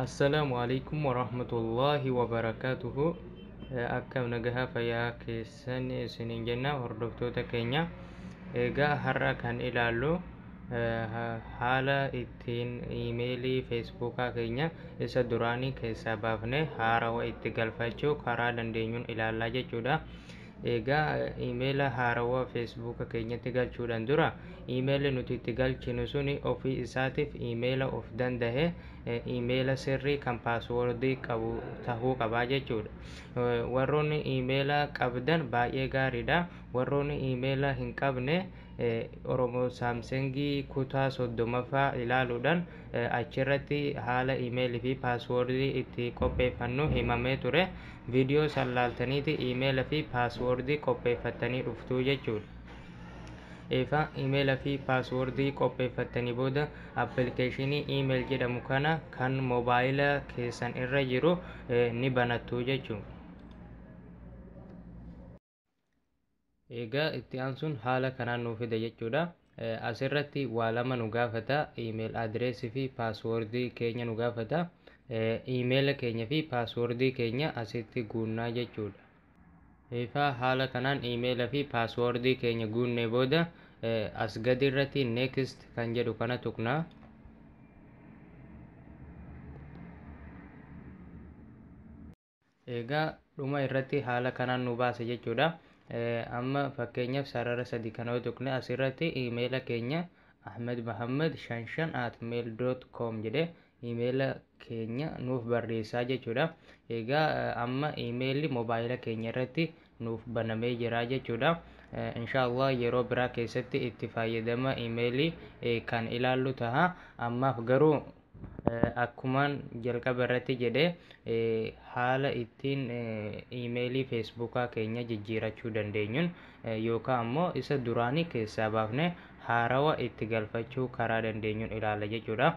Assalaamu alaikum warahmatullahi wabarakatuhu akkam nagaha fayyaa keessan isiniin jenna hordoftoota keenya egaa har'a kan ilaallu eh, haala itti tiin iimeelii feesbuukaa keenya isa duraanii keessaa baafnee haarawa itti galfachuu karaa dandeenyuun ilaallaa jechuudha. Egaa iimeela haarawa feesbuuka keenyatti galchuudhaan dura iimeelli nuti itti galchinu suni ofii isaatiif iimeela of dandahe iimeela sirrii kan paaswoordii qabu tahuu qabaa jechuudha. Warroonni iimeela qabdan baay'ee gaariidha. Warroonni iimeela hin qabne Oromo Samsung kutaa 30ffaa ilaaluudhaan achirratti haala email fi password itti qopheeffannu himamee ture. Video san laaltaniiti email fi password qopheeffattanii dhuftuu jechuudha. Eefa email fi password qopheeffattanii booda application email jedhamu kana kan mobile keessan irra jiru ni banattuu jechuudha. Egaa itti aansuun haala kanaan nuu fida jechuudha. Asirratti waa lama nu gaafata. Iimeel adireesii fi paaswoordii keenya nu gaafata. Iimeela keenya fi paaswoordii keenya asitti guunnaa jechuudha. Ifaa haala kanaan iimeela fi paaswoordii keenya guunnee booda as gadi irratti next kan jedhu kana tuqna. Egaa dhuma irratti haala kanaan nu baasa jechuudha. Amma fakkeenyaaf sarara sadi kana yoo tuqne asirratti iimeela keenya ahmedmahammed55@mail.com jedhe iimeela keenya nuuf barreessaa jechuudha. Egaa amma iimeelli mobaayila keenya irratti nuuf banamee jira jechuudha. Inshaallah yeroo biraa keessatti itti fayyadama iimeelii kan ilaallu taha. Ammaaf garuu Akkuman jalqaba irratti jedhe haala ittiin iimeelii feesbuukaa keenya jijjiirachuu dandeenyuun yookaan ammoo isa duraanii keessaa baafne haarawa itti galfachuu karaa dandeenyuun ilaalla jechuudha.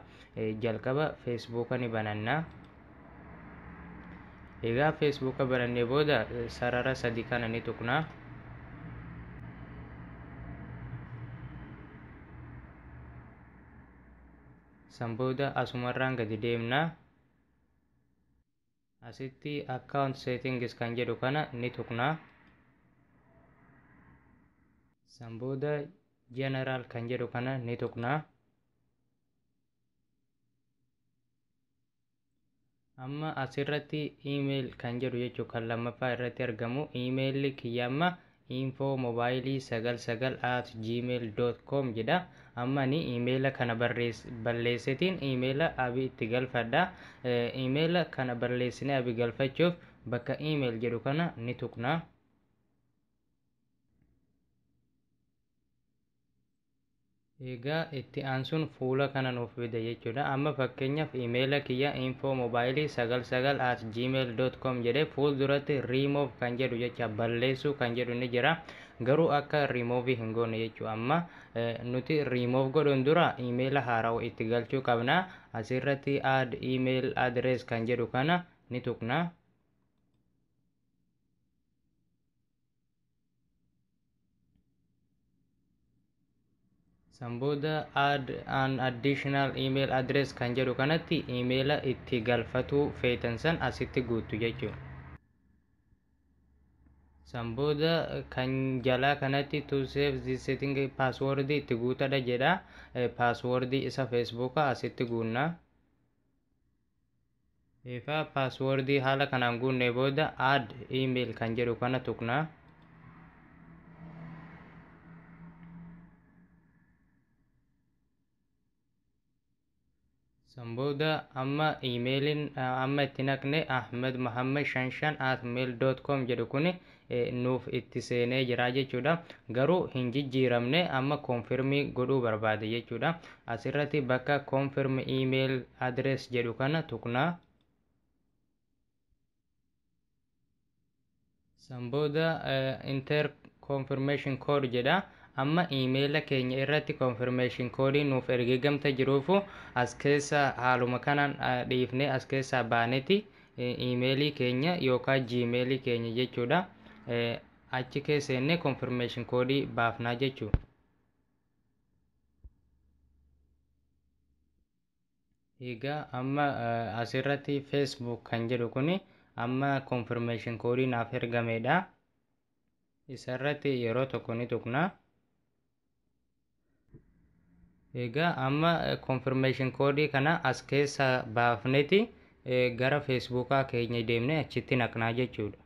Jalqaba feesbuuka ni bananna. Egaa feesbuuka banannee booda sarara sadi kana ni tuqna. San booda asumarraan gadi deemna. Asitti account settings kan jedhu kana ni tuqna. San booda general kan jedhu kana ni tuqna. Amma asirratti email kan jedhu jechuun kan lammaffaa irratti argamu email kiyya amma info mobile 99 at gmail.com jedha. Amma ani emaila kana balleessetiin emaila abi itti galfadha. Emaila kana balleessine abi galfachuuf bakka email jedhu kana ni tuqna. Egaa itti aansuun fuula kana nuuf fida jechuudha. Amma fakkeenyaaf emaila kiyya info mobile 99 at gmail dot com jedhee fuulduratti remove kan jedhu jecha balleessuu kan jedhu ni jira. Garuu akka remove hin goone jechuu amma nuti remove godhuun dura emaila haarawa itti galchuu qabna. Asirratti add email address kan jedhu kana ni tuqna. san booda add an additional email address kan jedhu kanatti imeela itti galfatuu feetan san asitti guuttu jechuudha. san booda kan jalaa kanatti to save this setting password itti guutadha jedha password isa feesbuuka asitti guunna Eegaa paaswoordii haala kanaan guunnee booda add email kan jedhu kana tuqna. San booda amma iimeeliin amma itti naqne ahmed muhammad shan shan at mail dot com jedhu kuni nuuf itti seenee jira jechuudha garuu hin jijjiiramne amma confirm godhuu barbaade jechuudha asirratti bakka confirm email address jedhu kana tuqna san booda inter confirmation code jedha amma emaila keenya irratti confirmation code nuuf ergeegamta jiruufu as keessa haaluma kanaan dhiifne as keessaa baaneti Iimeelii keenya yookaan Gmail keenya jechuudha. Achi keessa seennee confirmation koodii baafnaa jechuudha. Egaa amma asirratti Facebook kan jedhu kuni amma confirmation koodii naaf ergameedha. Isarratti yeroo tokko ni tuqna. Egaa amma confirmation koodii kana as keessa baafneti gara feesbuukaa keenya deemne achitti naqnaa jechuudha.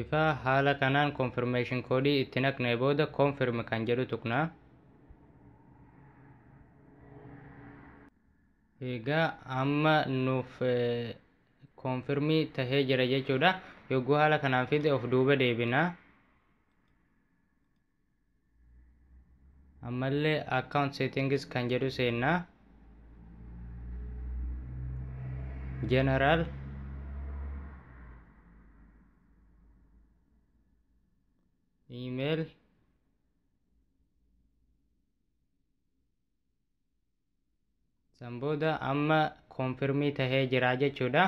Ifa haala kanaan confirmation koodii itti naqnee booda confirm kan jedhu tuqnaa. Egaa amma nuuf koonfirmii tahee jira jechuudha. Yogguu haala kanaan fide of duuba deebina. Ammallee account settings kan jedhu seenna. General email San booda amma koonfirmii tahee jira jechuudha.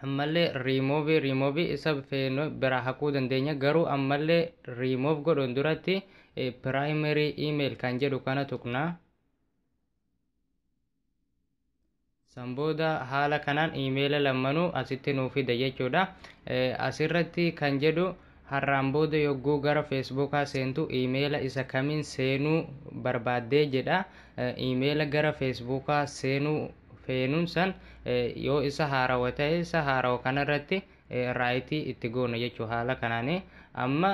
Ammallee riimoovi riimoovi isa feenu biraa haquu dandeenya garuu ammallee riimoov godhuun duratti piraayimerii iimeeyil kan jedhu kana tuqna. San booda haala kanaan iimeela lammanuu asitti nuu fida jechuudha. Asirratti kan jedhu har'aan booda yogguu gara feesbuukaa seentu iimeela isa kamiin seenuu barbaaddee jedha. Iimeela gara feesbuukaa seenuu feenuun san yoo isa haarawa ta'e isa haarawa kanarratti raayitii itti goona jechuu haala kanaani amma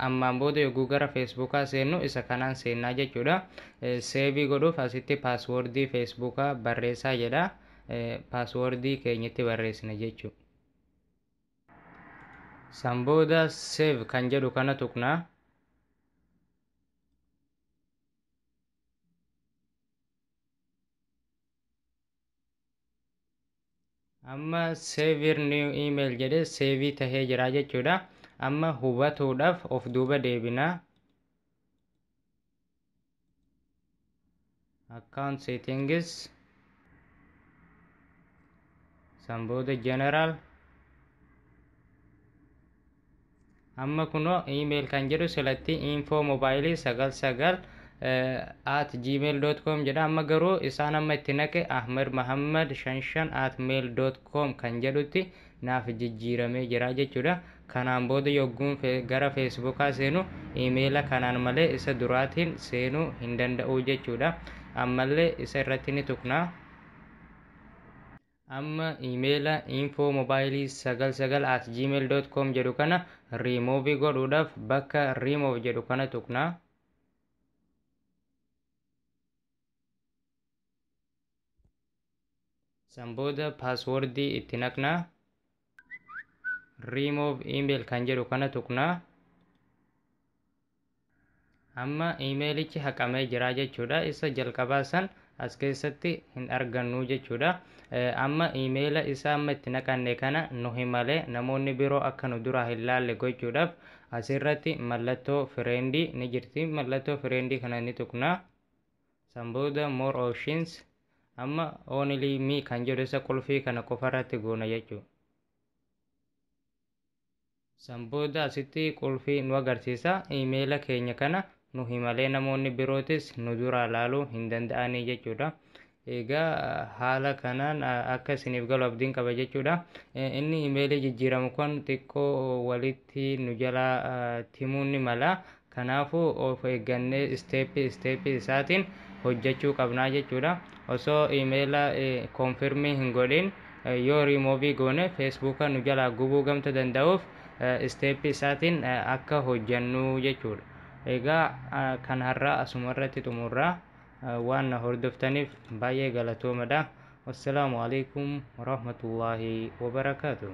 ammaan booda yogguu gara feesbuukaa seennu isa kanaan seennaa jechuudha seevii godhuuf asitti paaswoordii feesbuukaa barreessaa jedha paaswoordii keenya itti barreessina jechuu san booda seev kan jedhu kana tuqna amma seeviir niiw iimeeyil jedhee seevii tahee jira jechuudha amma hubatuudhaaf of duuba deebina account settings san booda general Amma kunoo email kan jedhu silatti info mobile 99 at gmail.com jedha amma garuu isaan amma itti naqe ahmed mahammad 55 at mail.com kan jedhutti naaf jijjiiramee jira jechuudha kanaan booda yogguun gara feesbuukaa seenu imeela kanaan malee isa duraatiin seenuu hin danda'u jechuudha ammallee isa irratti ni tuqna Amma emaila info mobile 99 at gmail dot com jedhu kana remove godhuudhaaf bakka remove jedhu kana tuqna. San booda password itti naqna. remove email kan jedhu kana tuqna amma imeelichi haqamee jira jechuudha isa jalqabaa san as keessatti hin argannu jechuudha amma imeela isa amma itti naqanne kana nu himale namoonni biroo akka nu duraa hin laalle gochuudhaaf asirratti mallattoo fireendii ni jirti mallattoo fireendii kana ni tuqna San booda more options amma only me kan jedhu isa qulfii kana qofa irratti goona jechuu. San booda asitti qulfii nu agarsiisa imeela keenya kana nu himalee namoonni birootis nu duraa ilaaluu hin danda'anii jechuudha. Egaa haala kanaan akka isiniif galu abdiin qaba jechuudha. Inni imeelii jijjiiramu kun xiqqoo walitti nu jalaa timuu ni mala. Kanaafuu of eeggannee step step isaatiin hojjachuu qabnaa jechuudha. Osoo email confirm hin godhin yoo remove goone Facebook nu jalaa gubuu gamta danda'uuf step isaatiin akka hojjannuu jechuudha. Egaa kan har'aa asuma irratti xumurra. Waan na hordoftaniif baay'ee galatoomadha. Wassalaamu alaikum warahmatullaahi wabarakaatuh.